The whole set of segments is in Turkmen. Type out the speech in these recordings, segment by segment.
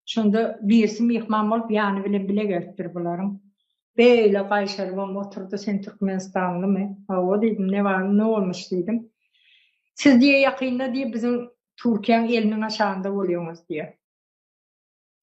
Şonda birisi myhman bolup ýany bilen bile gelipdir bularyň. Beýle gaýşarybam oturdy, Sen türkmenistanlymy? Hawa diýdim, Ne bar, ne bolmuş diýdim. Siz diýýär, ýakynda diýýär, biziň Türkiýäň eliniň aşagynda bolýaňyz diýýär.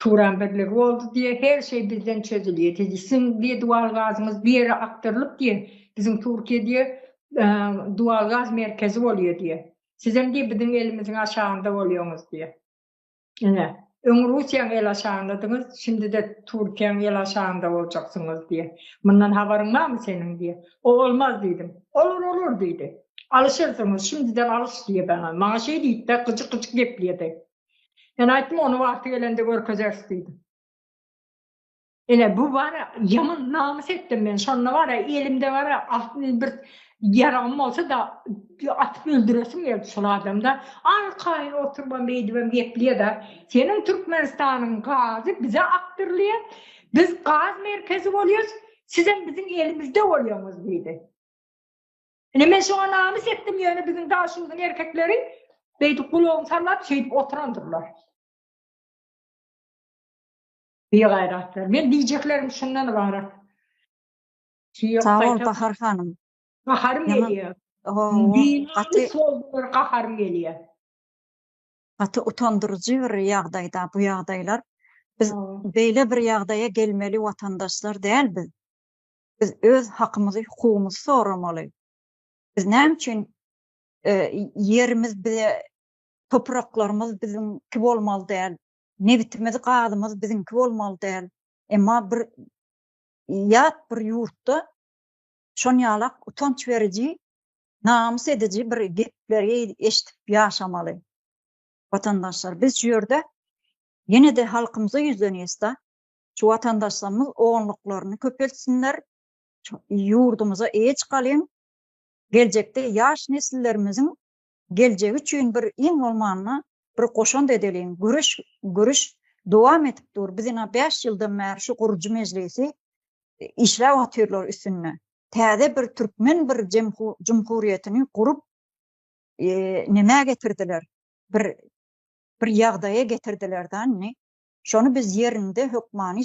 Turan birligi boldy diýýär, her şeý bizden çözülýär diýdi. Siziň diýýär, dual gazyňyz bu ýere akdyrylyp diýýär, biziň Türkiýe diýýär, dual gaz merkezi bolýar diýýär. Sizem diýýär, biziň elimiziň aşagynda bolýaňyz diýýär. Ine, öň Russiýaň el aşagyndadyňyz, şindi-de Türkiýäň el aşagynda boljaksyňyz diýýär. Mundan habaryň barmy seniň diýýär. O olmaz diýdim. Olar, olar diýdi. Alyşyrsyňyz, şindiden alyş diýýär maňa. Maňa şeý diýdi-de, gyjyk-gyjyk gepleýär-de. Men aýtdym, ony wagty gelende görkezeris diýdim. Ine bu bara ýaman namys etdim men şonda bara elimde bara altyn bir ýaragym bolsa da atyp öldüresim geldi şol adamda arkaýyn oturybam beýdibem geplýada seniň Türkmenistanyň gazy bize akdyrylýar biz gaz merkezi bolýas sizem biziň elimizde bolýaňyz diýdi. Ine men şoňa namys etdim ýöne biziň daşuzyň erkekleri beýdip gulagyny sallap şeýdip oturandyrlar. Bigaýratlar. Men diýjeklerim şundan ybarat. Sag bol Bahar hanym. Gaharym gelýär. Gaty soldular gaharym gelýär. Gaty utandyryjy bir ýagdaýda bu ýagdaýlar. Biz beýle bir ýagdaýa gelmeli watandaşlar däl biz. Biz öz hakymyzy, hukugymyzy soramaly. Biz näme üçin ýerimiz bize topraklarymyz biziňki bolmaly däl. Nebitimiz, gazymyz biziňki bolmaly däl. Emma bir ýat bir ýurtda şonýalak utanç beriji, namys ediji bir gepleri eşidip ýaşamaly. Watandaşlar, biz şu ýerde ýene-de halkymyza ýüzlenýäs-de, şu watandaşlarymyz oňluklaryny köpeltsinler, ýurdumyza eýe çykalyň, geljekde ýaş nesillerimiziň geljegi üçin bir iň bolmanda bir goşant edeliň göreş göreş dowam edip dur biz ina bäş ýyldan bäri şu gurujy mejlisi işläp otyrlar üstünde täze bir türkmen bir jumhurýetini gurup nämä getirdiler bir bir ýagdaýa getirdiler da indi şony biz ýerinde hökmany